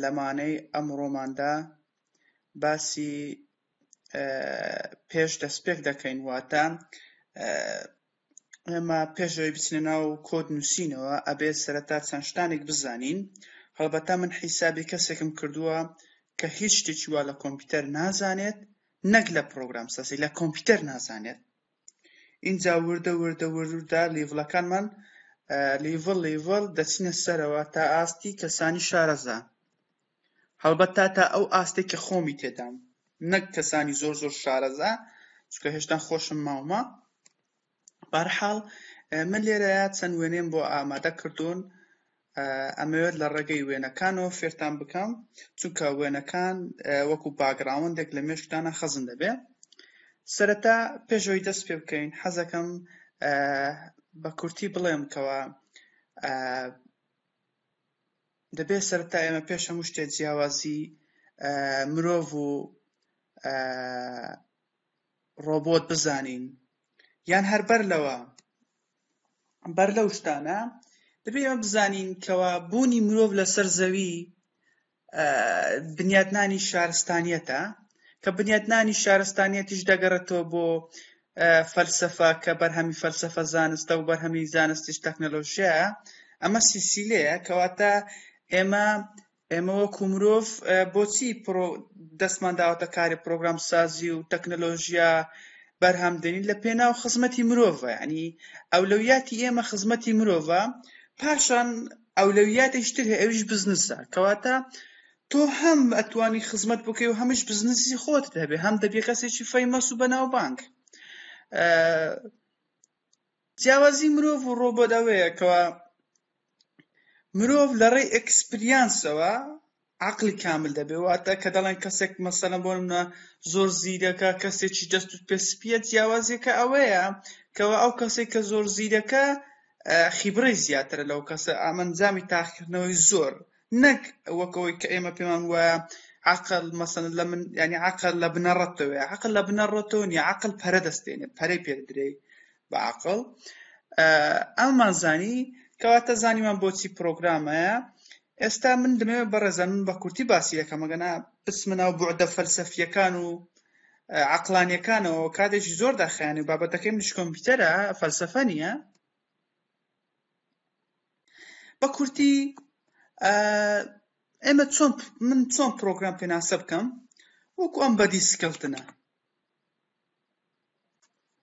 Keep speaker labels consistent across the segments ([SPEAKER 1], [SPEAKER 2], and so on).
[SPEAKER 1] لەمانەی ئەمڕۆماندا باسی پێش دەستپێک دەکەین واتە ئێمە پێشەوەی بچنە ناو کۆد نووسینەوە ئەبێ سەرەتا چەند شتانێک بزانین هەڵبەتە من حیسابی کەسێکم کردووە کە هیچ شتێکی وا لە کۆمپیوتەر نازانێت نەک لە پرۆگرام سازی لە کۆمپیوتەر نازانێت ئینجا وردە وردە وردە لیڤڵەکانمان لیڤڵ لیڤڵ دەچنە سەرەوە تا ئاستی کەسانی شارەزا هەڵبەت تا تا ئەو ئاستێک کە خۆمی تێدام نەک کەسانی زۆر زۆر شارەزا چکە هێشتان خۆشم ماومە بارحاڵ من لێرەیە چەند وێنێم بۆ ئامادە کردوون ئەمەوێت لە ڕێگەی وێنەکانەوە فێرتان بکەم چونکە وێنەکان وەکو باگراوندێک لە مێشکتانە خەزن دەبێ سەرەتا پێشەوەی دەست پێ بکەین حەزەکەم بە کورتی بڵێم کەەوە دەبێت سەرتا ئێمە پێش هەموو شتێ جیاوازی مرۆڤ و ڕۆبۆت بزانین یان هەربەر لەوە بەر لەو شتانە دەبێت ئەمە بزانین کەوا بوونی مرۆڤ لەسەر زەوی بنیاتنانی شارستانیەتە کە بنیاتنانی شارستانیەتیش دەگەڕێتەوە بۆ فەلسفە کە بەرهەمی فەلسفە زانستە و بەرهەمی زانستیش تەکنەلۆژیایە ئەمە سیسیلەیە کەواتە ئێمە ئێمە وەکو مرۆڤ بۆچی دەستمان داوەتە کاری پرۆگرام سازی و تەکنەلۆژیا بەرهەمدێنین لە پێناو خزمەتی مرۆڤە ینی ئەولەویاتی ئێمە خزمەتی مرۆڤە پاشان ئەولەویاتیشتر هەیە ئەویش بزنسە کەواتە تۆ هەم ئەتوانی خزمەت بکەی و هەمیش بزنسی خۆت دەبێ هەم دەبێ کەسێکی فەیمەس و بەناوبانگ جیاوازی مرۆڤ و ڕۆبۆت ئەوەیە کەوا مرۆڤ لە ڕێی ئەکسپریانسەوە عقلی کامل دەبێ واتە کە دەڵێن کەسێک مەسەلە بۆ منە زۆر زیرەکە کەسێکی دەست و پێ سپیە جیاوازیەکە ئەوەیە کەەوە ئەو کەسێک کە زۆر زیرەکە خیبڕی زیاترە لەو کەسە ئامەنجامی تاقیکردنەوەی زۆر نەک وەک ئەوەی کە ئێمە پێمان وایە عقل مەسەن لە من ینی عقل لە بنەڕەتەوەی عقل لە بنەڕەتەوە نیە عقل پەرە دەستێنێت پەرەی پێدرێی بە عقل ئەممان زانی کەواتە زانیمان بۆچی پرۆگرامەیە ئێستا من دەمەوێت بەڕێزە من بە کورتی باسی یەکەمەگەنا بسمنا و بۆعدە فەلسەفیەکان و عقلانیەکانەوە کاتێکی زۆر داخیانێ بابەتەکەی منش کۆمپیوتەرە فەلسەفە نیە بە کورتی ئێمە چۆن من چۆن پرۆگرام پێناسە بکەم وەکو ئەم بەدی سکەلتنە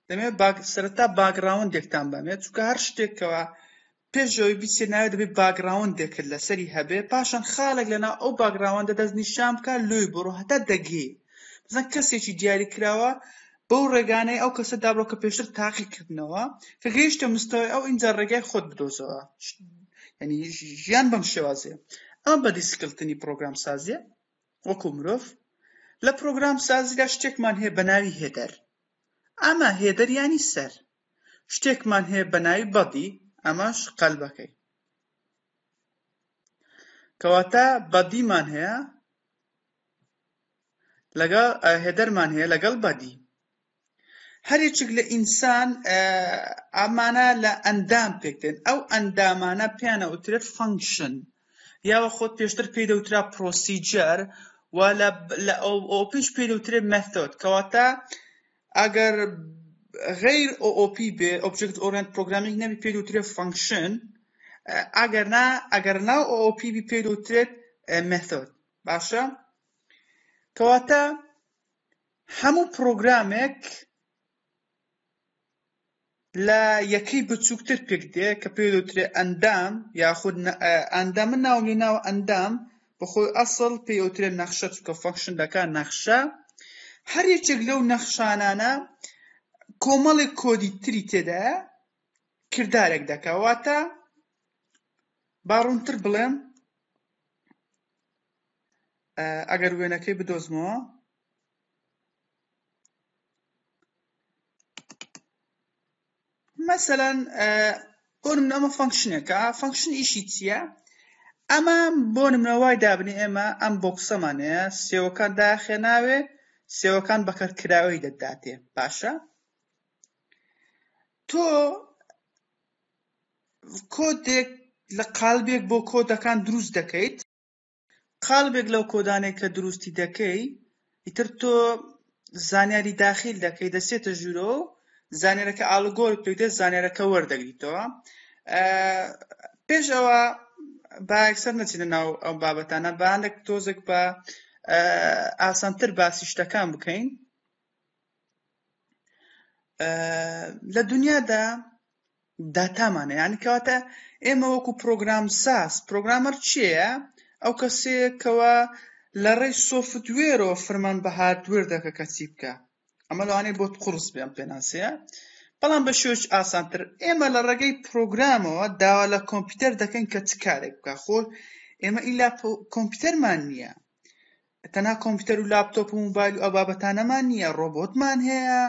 [SPEAKER 1] دەمێ سەرتا باگراوندێکتان بەمێت چکە هەر شتێکەوە پێشەوەی بیسێ ناوێت دەبێت باگراوندێکرد لەسەری هەبێ پاشان خاڵێک لەنا ئەو باگراوەندە دەست نیشان بکە لۆی بڕۆ هەتا دەگێ بزن کەسێکی دیاری کراوە بەو ڕێگانەی ئەو کەسە دابڕۆ کە پێشتر تاقی کردنەوە کە گەیشتە مستەوای ئەو ئینجا ڕێگای خۆت بدۆزەوە یعنی ژیان بەم شێوازێ ئەمە بە دیسکلتنی پرۆگرام سازیە وەکو مرۆڤ لە پرۆگرام سازیدا شتێکمان هەیە بە ناوی هێدەر ئەمە هێدەریانی سەر شتێکمان هەیە بە ناوی بەدی ئەمەش قەلبەکەی کەواتە بەدیمان هەیە لەگەڵ هێدەرمان هەیە لەگەڵ بەدی هەرێکێک لە ئینسان ئامانە لە ئەندام پێکدێن ئەو ئەندامانە پیانە وترێت فەنکشن یاوە خۆت پێشتر پێی دەوترا پرۆسیجەر و لە ئەو پیش پێی دەوترێت مەثۆد کەواتە ئەگەر غیر OOP بێ ئۆبجکت ئۆرنت پرۆگرامیک نەبی پێی دەوترێت فەنکشن ئەگەر نا ئەگەر ناو OOP بی پێی دەوترێت مەثۆد باشە کەواتە هەموو پرۆگرامێک لە یەکەی بچووکتر پێک دێ کە پێ دەوترێ ئەندام یاخود ئەندامە ناو لێ ناو ئەندام بەخۆی ئەسڵ پێ ئەوترێ نەخشە چکە فەکشن دەکا نەخشە هەر یەکێک لەو نەخشانانە کۆمەڵێک کۆدی تری تێدا کردارێک دەکەواتە باڕونتر بڵێم ئەگەر وێنەکەی بدۆزمەوە مثلا بۆ نمونە ئەمە فەنکشنێکە فەنکشن ئیشی چییە ئەمە بۆ نمونەوای دابنی ئێمە ئەم بۆکسەمانەیە سێوەکان داخێناوێ سێوەکان بەکەرکراوی دەداتێ باشە تۆ کۆدێک لە قالبێک بۆ کۆدەکان دروست دەکەیت قالبێک لەو کۆدانێک کە دروستی دەکەی ئیتر تۆ زانیاری داخیل دەکەی دەسێتە ژوورۆ زانێرەکە ئالگۆر پێدە زانێرەکە وەردەگریتەوە پێش ئەوە باەکسەر نەچینە ناو ئەم بابەتانە باندێک تۆزێک بە ئاسانتر باسی شتەکان بکەین لە دنیادا داتامانە یعنی کەواتە ئێمە وەکو پرۆگرام ساز پرۆگرامەر چیە ئەو کەسێکەوە لە ڕێی سۆفتوێرەوە فرمان بە هاردوێر دەکە کەچی بکە ئەمە لەوانەیە بۆت قڕس بێم پێناسەیە بەڵام بە شێوەش ئاسانتر ئێمە لە ڕێگەی پرۆگرامەوە داوا لە کۆمپیوتەر دەکەین کە چ کارێک بکە خۆ ئێمە ئیلا کۆمپیوتەرمان نییە تەنها کۆمپیوتەر و لاپتۆپ و موبایل و ئەو بابەتانەمان نییە ڕۆبۆتمان هەیە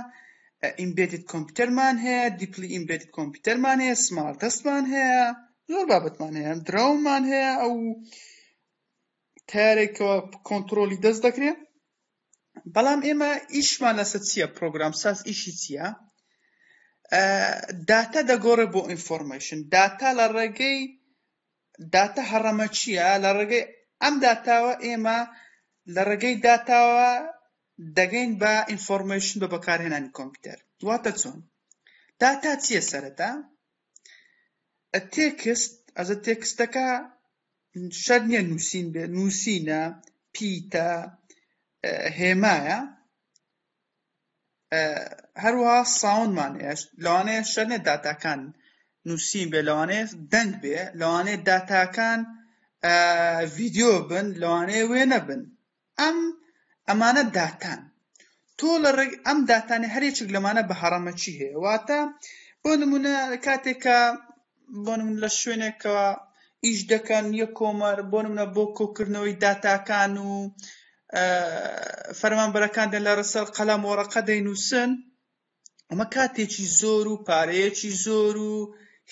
[SPEAKER 1] ئیمبێدت کۆمپیوتەرمان هەیە دیپلی ئیمبێدت کۆمپیوتەرمان هەیە سمارت دەستمان هەیە زۆر بابەتمان هەیە درەومان هەیە ئەو تارێکەوە کۆنتترۆلی دەست دەکرێت بەڵام ئێمە ئیشمان لەسە چییە پرۆگرام ساز ئیشی چییە داتا دەگۆڕێ بۆ ئینفۆرمەشن داتا لە ڕێگەی داتا هەڕەمە چییە؟ لە ڕێگەی ئەم داتاوە ئێمە لە ڕێگەی داتاوە دەگەین بە ئینفۆرمەیشن بە بەکارهێنانی کۆمپیوتەر واتە چۆن داتا چییە سەرەتا تێکست ئەزە تێکستەکە شەر نییە نووسین بێ نووسینە پیتە هێمایە هەروەها ساوندمان لەوانەیە شەرنێ داتاکان نووسین بێ لەوانەیە دەنگ بێ لەوانەیە داتاکان ڤیددیو بن لەوانەیە وێ نەبن ئەم ئەمانە داتان تۆ لە ڕێک ئەم داتانی هەرێکێک لەمانە بە هەڕەمەکی هەیە واتە بۆ نمونە کاتێکە بۆ نمونە لە شوێنێک کە ئیش دەکەن یە کۆمەر بۆ نمونە بۆ کۆکردنەوەی داتاکان و فەرمانبەرەکان دە لە ڕسەر قەلەم وەڕەقە دەینووسن ئەمە کاتێکی زۆر و پارەیەکی زۆر و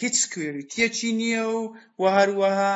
[SPEAKER 1] هیچ کوێریتیەکی نییە و و هەروەها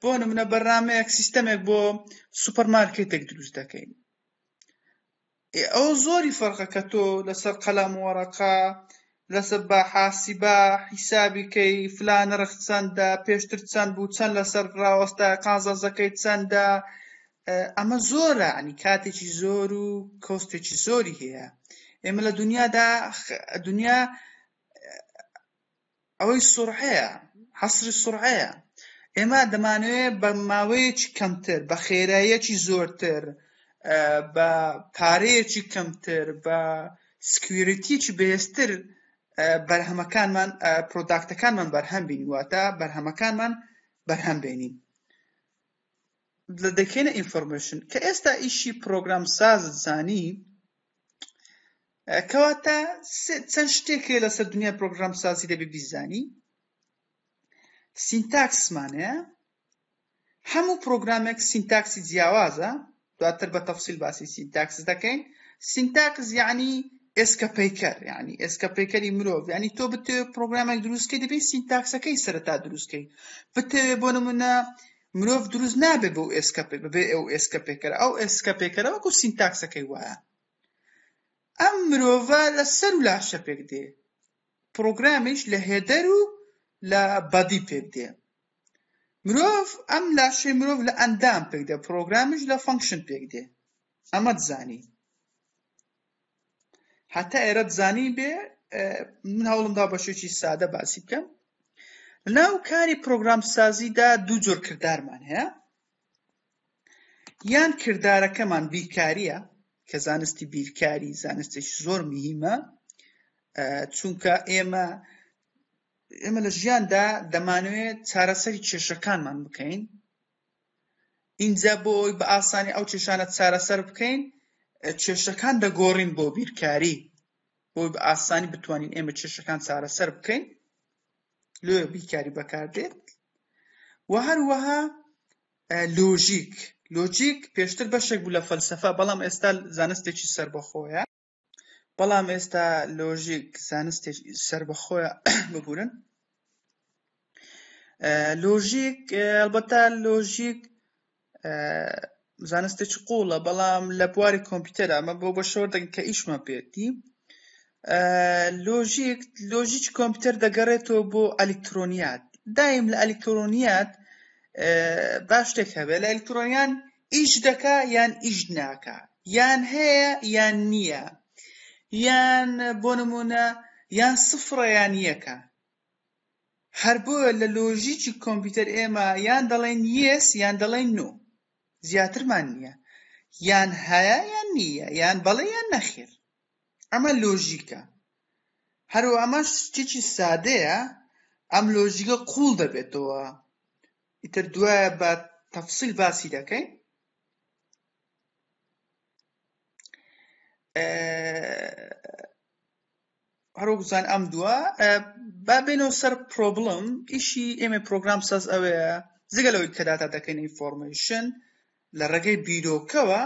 [SPEAKER 1] بۆ نمونە بەرنمەیەک سیستەمێک بۆ سوپەرمارکێتێک دروست دەکەین ئەو زۆری فەرقە کە تۆ لەسەر قەلام وەڕەقا لەسەر بە حاسیبا حیسابیکەی فلان رخ چەندە پێشتر چەند بوو چەند لەسەر ڕاوەستا قازەزەکەی چەندە ئەمە زۆرە عنی کاتێکی زۆر و کۆستێکی زۆری هەیە ئێمە لە دنیادا دنیا ئەوەی سورعەیە حەسری سورعەیە ئێمە دەمانەوێت بە ماوەیەکی کەمتر بە خێراییەکی زۆرتر بە پارەیەکی کەمتر بە سکویرتیکی بەهێزتر بەرهەمەکانمان پرۆداکتەکانمان بەرهەم بینی واتە بەرهەمەکانمان بەرهەم بێنین لە دەکێنە ئینفۆرمێشن کە ئێستا ئیشی پرۆگرام سازت زانی کەواتە چەند شتێکێ لەسەر دنیا پرۆگرام سازی دەبێ بیزانی سینتاکسمانەیە هەموو پرۆگرامێک سینتاکسی جیاوازە دواتر بە تەفسیل باسی سینتاکس دەکەین سینتاکس یعنی ئێسکە پیکەر ینی ئێسکە پیکەری مرۆڤ ینی تۆ بتێ پرۆگرامێک دروستکەی دەبێت سینتاکسەکەی سەرتا دروستکەی بتەوێ بۆ نمونە مرۆڤ دروست نابێت بەو ئێسکە بەبێ ئەو ئێسکە پێکەرە ئەو ئێسکە پێکەرە وەکو سینتاکسەکەی وایە ئەم مرۆڤە لە سەر و لاشە پێک دێ پرۆگرامیش لە هێدەر و لە بەدی پێک دێ مرۆڤ ئەم لاشەی مرۆڤ لە ئەندام پێک دێ پرۆگرامیش لە فەنکشن پێک دێ ئەمە دزانی هەتا ئێرە بزانین بێ من هەوڵم دا بە شێکی سادە باسی بکەم لەناو کاری پرۆگرام سازیدا دوو جۆر کردارمان هەیە یان کردارەکەمان بیرکاریە کە زانستی بیرکاری زانستێکی زۆر مهمە چونکە ئێمە ئێمە لە ژیاندا دەمانوێت چارەسەری کێشەکانمان بکەین ئینجا بۆ ئەوەی بە ئاسانی ئەو کێشانە چارەسەر بکەین کێشەکان دەگۆڕین بۆ بیرکاری بۆی بە ئاسانی بتوانین ئێمە کێشەکان چارەسەر بکەین لۆ بیرکاری بەکاردێت و هەروەها لۆژیک لۆجیک پێشتر بەشێک بوو لە فەلسەفە بەڵام ئێستا زانستێکی سربەخۆیە بەڵام ئێستا لۆژیک زانستێک سربەخۆیە ببورن لۆژیک ئەلبەتا لۆژیک زانستێک قوڵە بەڵام لە بواری کۆمپیوتەر ئەمە بۆ بە شۆر دەگەن کە ئیشمە پێتی لۆژیک لۆژیک کۆمپیوتەر دەگەڕێتەوە بۆ ئەلکترۆنیات دایم لە ئەلکترۆنیات باش شتێک هەبێت لە ئەلکترۆنیان ئیش دەکا یان ئیش ناکا یان هەیە یان نییە یان بۆ نمونە یان سفڕە یان یەکە هەر بۆیە لە لۆژیکی کۆمپیوتەر ئێمە یان دەڵێن یس یان دەڵێن نۆ زیاترمان نییە یان هەیە یان نییە یان بەڵێ یان نەخێر ئەمە لۆژیکە هەرو ئەمە شتێکی سادەیە ئەم لۆژیکە قوڵ دەبێتەوە ئیتر دوایە بە تەفسیل باسی دەکەین هەرۆکزان ئەم دووە با بێنەوە سەر پرۆبلم ئیشی ئێمە پرۆگرام ساز ئەوەیە زگە لەوەی کە داتا دەکەین ئینفۆرمەیشن لە ڕێگەی بیرۆکەوە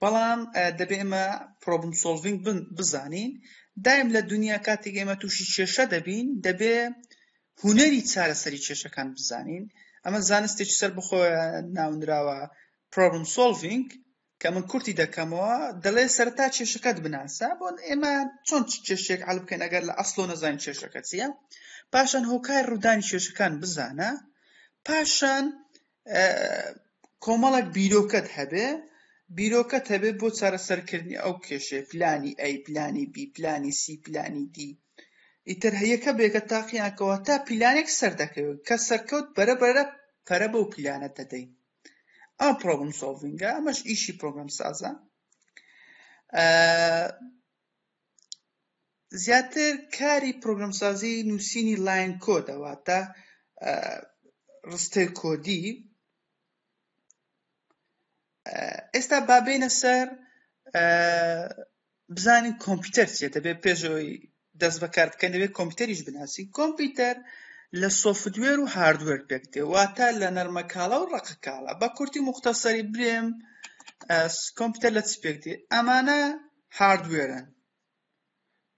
[SPEAKER 1] بەڵام دەبێ ئێمە پرۆبم سۆڵڤینگ بزانین دایم لە دنیا کاتێک ئێمە تووشی کێشە دەبین دەبێ هوەری چارەسەری کێشەکان بزانین ئەمە زانستێکی سەر بخۆ ناونراوە پرۆبم سۆڵڤینگ کە من کورتی دەکەمەوە دەڵێ سەرتا کێشەکەت بناسە بۆ ئێمە چۆن کێشێک عل بکەین ئەگەر لە ئەسلۆ نەزان کێشەکە چیە پاشان هۆکای ڕوودانی کێشەکان بزانە پاشان کۆمەڵێک بیرۆکەت هەبێ بیرۆکەت هەبێ بۆ چارەسەرکردنی ئەو کێشێ پلانی ئەی پلانی بی پلانی سی پلانی دی ئیتر هەیەکە بێکە تاقییانکەەوە تا پیلانێک سەر دەکەوێت کە سەرکەوت بەرە بەرە پەرە بەو پیلانە دەدەین ئەم پرۆبم سۆڤنگە ئەمەش ئیشی پرۆگرام سازە زیاتر کاری پرۆگرامسازی نووسینی لاین کۆدە واتە ڕستەی کۆدی ئێستا بابێنە سەر بزانین کۆمپیوتەر چێ دەبێت پێشەوەی دەست بەکار بکەن دەبێت کۆمپیوتەریش بناسی کۆمپیوتەر لە سۆفتوێر و هاردوێر پێک دێ واتە لە نەرمەکاڵا و ڕقکاڵا بە کورتی مختەسەری برێم کۆمپیوتەر لە چ پێک دێ ئەمانە هاردوێرن،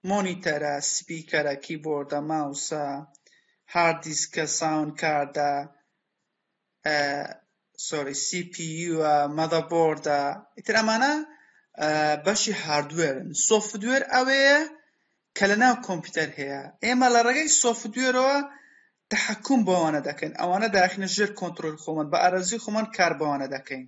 [SPEAKER 1] مۆنیتەرە، سپیکەرە، کیبۆردە، ماوسە، هارد دیسکە، ساوند کاردە، سی پی یوە، مەدەبۆردە، ئیتر ئەمانە بەشی هاردوێرن، سۆفتوێر ئەوەیە کە لە ناو کۆمپیوتەر هەیە، ئێمە لە ڕێگەی سۆفتوێرەوە تەحەکوم بەوانە دەکەین، ئەوانە داخینە ژێر کۆنترۆل خۆمان، بە ئارەزوی خۆمان کار بەوانە دەکەین.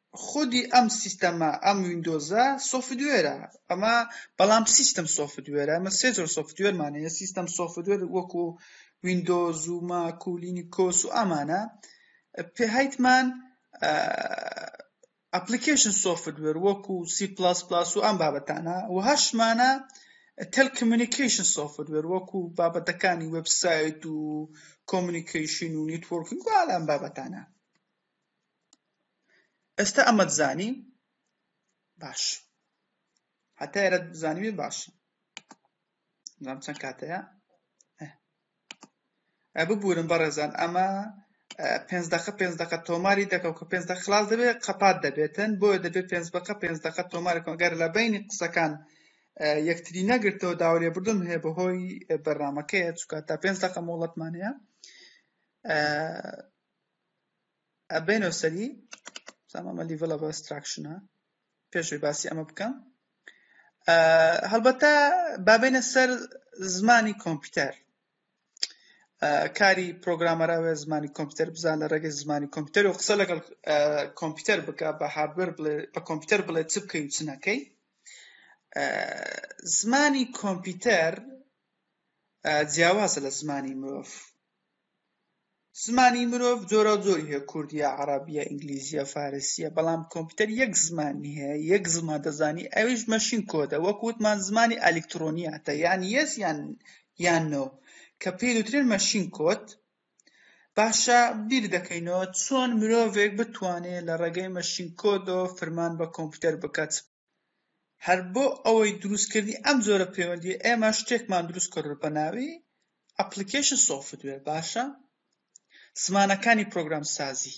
[SPEAKER 1] خودی ئەم سیستەمە ئەم ویندۆزە سۆفتوێرە ئەمە بەڵام سیستم سۆفتوێرە ئەمە سێ جۆر سۆفتوێرمان هەیە سیستم سۆفتوێر وەکو ویندۆز و ماک و لینیکۆس و ئەمانە پێهایتمان ئەپلیکیشن سۆفتوێر وەکو سی پلاس پلاس و ئەم بابەتانە و هەشمانە تەلکمیونیکیشن سۆفتوێر وەکو بابەتەکانی وبسایت و کۆمونیکیشن و نیتۆرکینگ و ئالان بابەتانە ئێستا ئەمەت زانی باش هەتا ئێرە زانیوێ باش نام چەند کاتەیە ببورن بەڕێزان ئەمە پێنج دقە پێنج دقە تۆماری دەکەم کە پێنج دە خلاص دەبێت قەپات دەبێتن بۆیە دەبێت پێنج بەقە پێنج دقە تۆمارەکەم گەر لە بینی قسەکان یەکتری نەگرتەوە داوەێ بردم هەیە بەهۆی بەرنمەکەیە چکە تا پێنج دقە مۆڵەتمانەیە ئەبێنەوە سەری زامە لیڤڵە بە ستراکشنە پێشوی باسی ئەمە بکەم هەڵبەتە بابێنە سەر زمانی کۆمپیوتەر کاری پرۆگرامەراوێ زمانی کۆمپیوتەر بزان لە ڕێگەی زمانی کۆمپیوتەر و قسە لەگەڵ کۆمپیوتەر بکە بە هاردوەر بڵێ بە کۆمپیوتەر بڵێ چ بکەی و چنەکەی زمانی کۆمپیوتەر جیاوازە لە زمانی مرۆڤ زمانی مرۆڤ جۆراوجۆری هەیە کوردیە عەڕەبیە ئینگلیزیە فارسیە بەڵام کۆمپیوتەر یەک زمانی هەیە یەک زمان دەزانی ئەویش مەشین کۆدە وەک وتمان زمانی ئەلیکترۆنیاتە یان یەس یان یان نۆ کە پێی دەوترێت مەشین کۆد باشە بیر دەکەینەوە چۆن مرۆڤێک بتوانێت لە ڕێگەی مەشین کۆدەوە فرمان بە کۆمپیوتەر بکات هەر بۆ ئەوەی دروستکردنی ئەم جۆرە پەیوەندیە ئێمە شتێکمان دروست کرد بە ناوی ئەپلیکیشن سۆفتوێر باشە زمانەکانی پرۆگرام سازی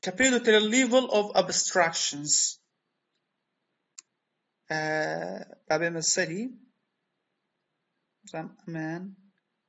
[SPEAKER 1] کە پێ دەوترێ لیڤل ئۆف ئەبستراکشنز بابێمە سەری ئەمان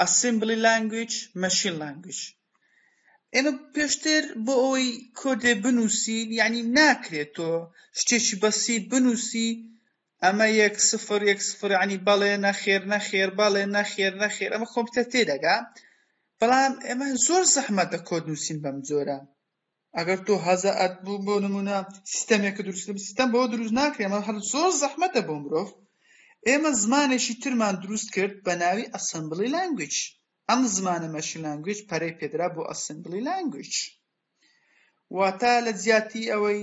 [SPEAKER 1] ئەسیمبلی لانگویج مەشین لانگویج ئێمە پێشتر بۆ ئەوەی کۆدێ بنووسین یعنی ناکرێت تۆ شتێکی بەسیت بنووسی ئەمە یەک سفر یەک سفر عنی بەڵێ نەخێر نەخێر بەڵێ نەخێر نەخێر ئەمە کۆمپیوتەر تێدەگا بەڵام ئێمە زۆر زەحمەتە کۆد نووسین بەم جۆرە ئەگەر تۆ هەزە ئەت بوو بۆ نمونە سیستەمێکە دروستکرد سیستەم بۆ دروست ناکرێ ئەمە هەر زۆر زەحمەتە بۆ مرۆڤ ئێمە زمانێکی ترمان دروست کرد بە ناوی ئەسمبلی لانگویج ئەم زمانە مەشین لانگویج پەرەی پێدرا بۆ ئەسمبلی لانگویج واتە لە جیاتی ئەوەی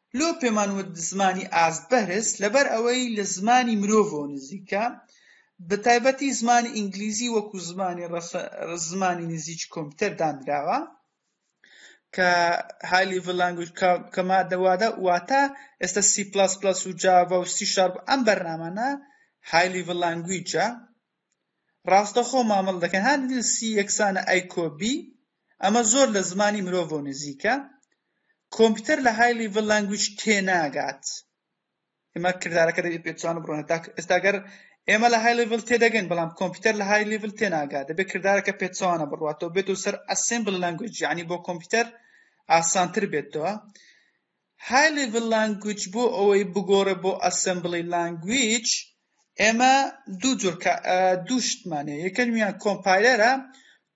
[SPEAKER 1] لۆ پێمان وت زمانی ئاست بەرز لەبەر ئەوەی لە زمانی مرۆڤەوە نزیکە بە تایبەتی زمانی ئینگلیزی وەکو زمانی ڕەسە زمانی نزیکی کۆمپیوتەر دانراوە کە های لیڤل لانگویج کە مادە وادە واتە ئێستا سی پلاس پلاس و جاڤا و سی شارپ ئەم بەرنامانە های لیڤل لانگویجە ڕاستەخۆ مامەڵە دەکەن هەر دل سی یەکسانە ئەیکۆ بی ئەمە زۆر لە زمانی مرۆڤۆ نزیکە کۆمپیوتەر لە های لیڤل لانگویج تێناگات ئێمە کردارەکە دەبێت پێچوان بڕۆن هەتا ئێستاگەر ئێمە لە های لیڤل تێدەگەن بەڵام کۆمپیوتەر لە های لیڤل تێناگات دەبێت کردارەکە پێچوانە بڕاتەوە بێت و سەر ئەسمبل لانگویج یعنی بۆ کۆمپیوتەر ئاسانتر بێتەوە High Level Language بۆ ئەوەی بگۆڕێ بۆ Assembly Language ئێمە دوو جۆر دوو شتمان هەیە یەکەمیان کۆمپایلەرە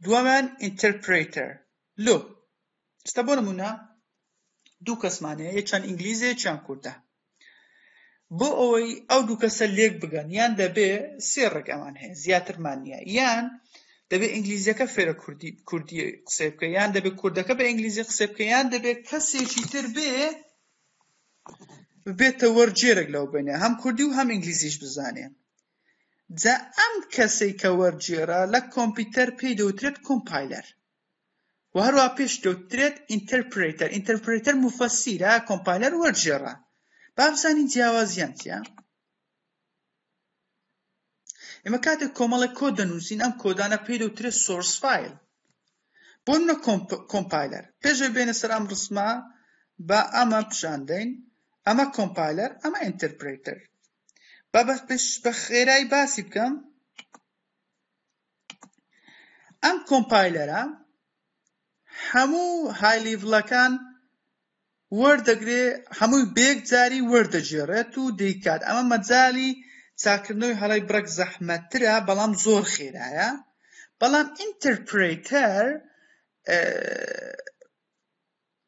[SPEAKER 1] دووەمیان ئینتەرپرێتەر لۆ ئێستا بۆ نمونە دوو کەسمان هەیە یەکیان ئینگلیزە یەکیان کوردە بۆ ئەوەی ئەو دوو کەسە لێک بگەن یان دەبێ سێ ڕێک ئەمان هەیە زیاترمان نییە یان دەبێ ئینگلیزیەکە فێرە کوردی کوردی قسەی بکە یان دەبێت کوردەکە بە ئینگلیزی قسە بکە یان دەبێت کەسێکی تر بێ بێتە وەرجێرەك لەو بینێ هەم کوردی و هەم ئینگلیزیش بزانێ جا ئەم کەسێک کە وەرجێرە لە کۆمپیوتەر پێی دەوترێت کۆمپایلەر و هەروەها پێشکەوتترێت ئینتەرپرێتەر ئینتەرپرێتەر موفەسیرە کۆمپایلەر وەرجێڕە بابزانین جیاوازیان چیە ئێمە کاتێک کۆمەڵێک کۆ دەنووسین ئەم کۆدانە پێی دەوترێت سۆرس فیل بۆ منە کۆمپایلەر پێشە بێنە سەر ئەم ڕسمە بە ئەمە پیشاندەین ئەمە کۆمپایلەر ئەمە ئینتەرپرێتەر بابەت پێش بە خێرای باسی بکەم ئەم کۆمپایلەرە هەموو های لیڤڵەکان وەردەگرێ هەمووی بەیەک جاری وەردەگێڕێت و دەیکات ئەمە مەجالی چاکردنەوەی هەڵەی بڕەک زەحمەتترە بەڵام زۆر خێرایە بەڵام ئینتەرپرێتەر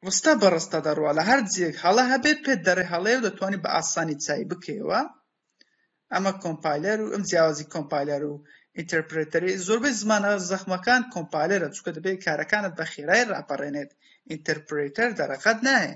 [SPEAKER 1] ڕستە بە ڕستە دەڕوا لە هەر جیەک هەڵە هەبێت پێت دەرێ هەڵەیە و دەتوانی بە ئاسانی چای بکەیەوە ئەمە کۆمپایلەر و ئەم جیاوازی کۆمپایلەر و ئینتەرپرێتەری زۆربەی زمانە زەخمەکان کۆمپایلەرە چونکە دەبێت کارەکانت بە خێرای ڕاپەڕێنێت ئینتەرپرێتەر دەرەقەت نایە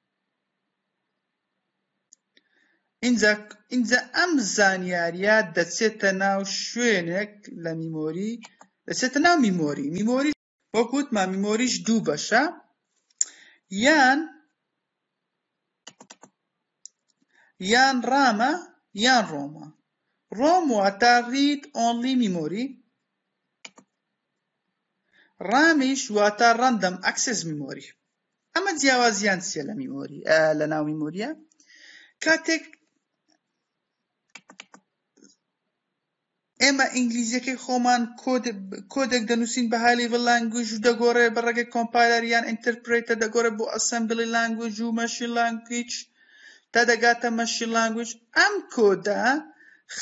[SPEAKER 1] ئینجا ئینجا ئەم زانیاریە دەچێتە ناو شوێنێک لە میمۆری دەچێتە ناو میمۆری میمۆری وەک وتمان میمۆریش دوو بەشە یان یان ڕامە یان ڕۆمە ڕۆم واتە ڕید ئۆنلی میمۆری ڕامیش واتە ڕەندەم ئەکسس میمۆری ئەمە جیاوازیان چیە لە میمۆری لە ناو میمۆریە کاتێک ئێمە ئینگلیزیەکەی خۆمان کۆدێک دەنووسین بە هالی لانگویژ و دەگۆڕێ بە ڕێگەی کۆمپایلەر یان ئینتەرپرێتە دەگۆڕێ بۆ ئەسەمبلی لانگویج و مەشی لانگویچ تا دەگاتە مەشی لانگویج ئەم کۆدا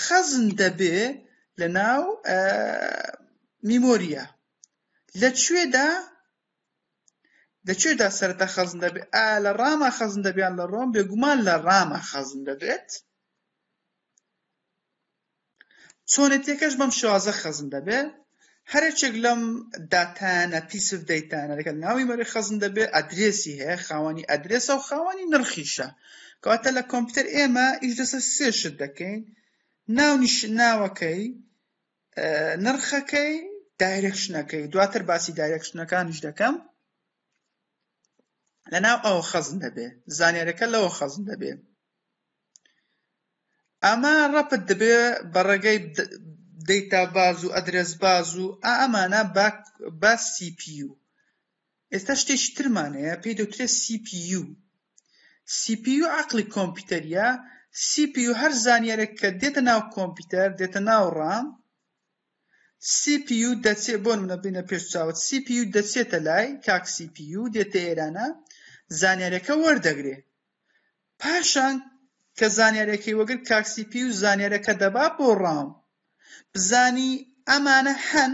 [SPEAKER 1] خەزن دەبێ لە ناو میمۆریە لە کوێدا لە کوێدا سەرەتا خەزن دەبێت ئا لە ڕاما خەزن دەبیان لە ڕۆم بێگومان لە ڕاما خەزن دەبێت چۆنێتەکەش بەم شازە خەزن دەبێت هەرچێک لەم داتانە پیسف دەیتانە لەگەڵ ناوی مەرە خەزن دەبێت ئەدرێسی هەیە خاوەنی ئەدرێسە و خاوەنی نرخیشە کەواتە لە کۆمپیوتەر ئێمە ئیش لەسەر سێشت دەکەین ناو ناوەکەی نرخەکەی دایرکشنەکەی دواتر باسی دایرکشنەکانیش دەکەم لەناو ئەوە خەزن دەبێ زانیارەکە لەوە خەزن دەبێ ئەمە ڕەپت دەبێ بە ڕێگەی دەیتا باز و ئەدرس باز و ئەمانە بە سیPU ئێستا شتێکی ترمان هەیە پێی دەوترێت سی پی یو سی پی یو عقلی کۆمپیوتەریە سی پی یو هەر زانیارێک کە دێتە ناو کۆمپیوتەر دێتە ناو ڕام سی پی یو دەچێ بۆ منە بینە پێش چاوت سی پی یو دەچێتە لای کاک سی پی یو دێتە ئێرانە زانیارەکە وەردەگرێ پاشان کە زانیارەکەی وەگر کاک سی پی یو زانیارەکە دەبا بۆ ڕام بزانی ئەمانە هەن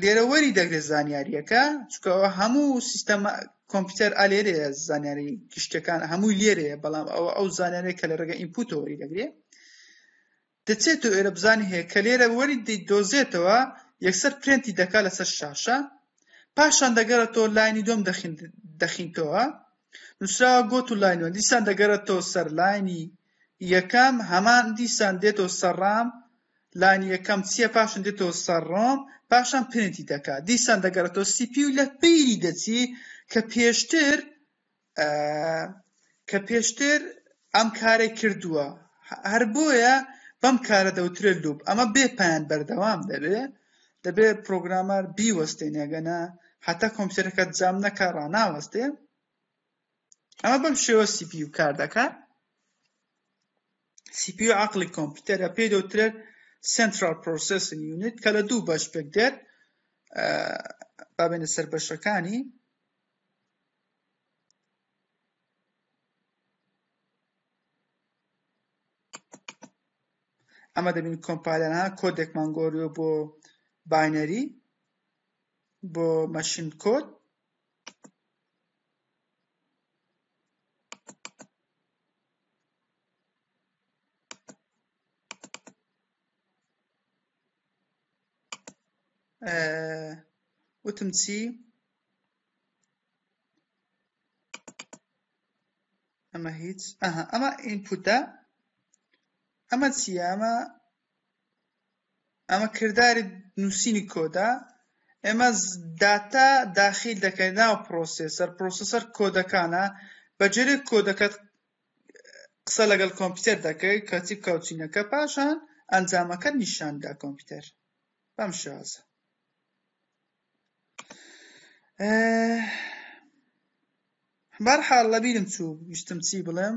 [SPEAKER 1] لێرە وەری دەگرێت زانیاریەکە چکە هەموو سیستەم کۆمپیوتەر ئالێرێ زانیاری گشتەکان هەمووی لێرێ بەڵام ئەوە ئەو زانانێک کە لە ڕێگە ئینپوتە وەری دەگرێت دەچێت و ئێرە بزانانی هەیە کە لێرە وەری دۆزێتەوە یەکسەر پرێنتی دەکا لەسەر شاشە پاشان دەگەرێتەوە لاینی دۆم دەخینتەوە نووسراوە گۆت و لاینوە دیسان دەگەرێتەوە سەر لاینی یەکەم هەمان دیسان دێتەوە سەر ڕام لانی یەکەم چییە پاشان دێتەوە سەر ڕۆم پاشان پرنتی دەکات دیسان دەگەڕێتەوە سیپی و لە پیری دەچی کە پێشتر کە پێشتر ئەم کارەی کردووە هەر بۆیە بەم کارە دەوترێت لوب ئەمە بێ پایان بەردەوام دەبێ دەبێ پرۆگرامەر بیوەستێنێگەنە هەتا کۆمپیوتەرەکە جام نەکە ڕناوەستێ ئەمە بەم شێوە سی پی و کار دەکات سی پی و عقلی کۆمپیوتەرە پێی دەوترێت سنترال پرۆسسن یونیت کە لە دوو بەش پێک دێت بابێنە سەر بەشەکانی ئەمە دەبین کۆمپالەنا کۆدێکمان گۆریۆ بۆ باینەری بۆ مەشین کۆد وتم چی ئەمە هیچ ئەها ئەمە ئینپوتە ئەمە چیە ئەمە ئەمە کرداری نووسینی کۆدا ئێمە داتا داخیل دەکەین ناو پرۆسێسەر پرۆسەسەر کۆدەکانە بەجێرێک کۆدەکەت قسە لەگەڵ کۆمپیوتەر دەکەی کەچی کاوچینەکە پاشان ئەنجامەکە نیشاندا کۆمپیوتەر بەم شازە بەرحاڵ لەبیرم چوو ویستم چی بڵێم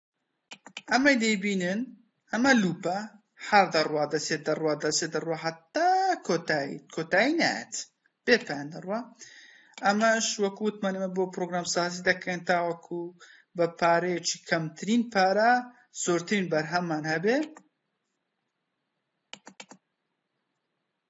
[SPEAKER 1] ئەمەی دەیبینن ئەمە لوپە هەر دەڕوا دەسێ دەڕوا دەسێ دەڕوا حتا کۆتایی کۆتایی نایەت بێ پایان دەڕوا ئەمەش وەکو وتمانەمە بۆ پرۆگرام سازی دەکەن تاوەکو بە پارەیەکی کەمترین پارە زۆرترین بەرهەممان هەبێ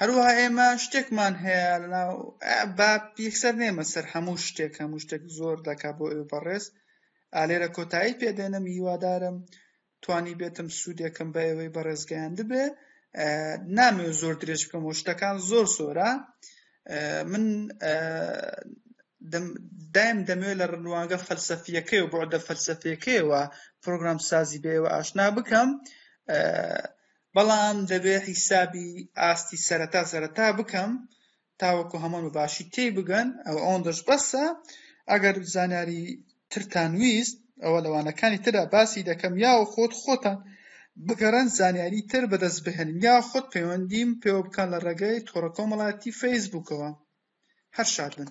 [SPEAKER 1] هەروەها ئێمە شتێکمان هەیە لەناو با یەکسەر نێمە سەر هەموو شتێک هەموو شتێک زۆر دەکا بۆ ئێوە بەڕێز لێرە کۆتایی پێدێنم هیوادارم توانی بێتم سوودێکم بە ئێوەی بەڕێزگەیاند بێ نامێ زۆر درێژ بکەم و شتەکان زۆر زۆرە من دایم دەمەوێت لە ڕنوانگە فەلسەفیەکەی و بۆدە فەلسەفیەکەیەوە پرۆگرام سازی بێەوە ئاشنا بکەم بەڵام دەبێ حیسابی ئاستی سەرەتا سەرەتا بکەم تاوەکو هەمووان بە باشی تێی بگەن ئەو ئەوەندەش بەسە ئەگەر زانیاری ترتان ویست ئەوە لەوانەکانی تردا باسی دەکەم یا و خۆت خۆتان بگەڕن زانیاری تر بەدەست بهێنن یا خۆت پەیوەندیم پێوە بکەن لە ڕێگەی تۆڕە کۆمەڵاتی فەیسبووکەوە هەر شاد بن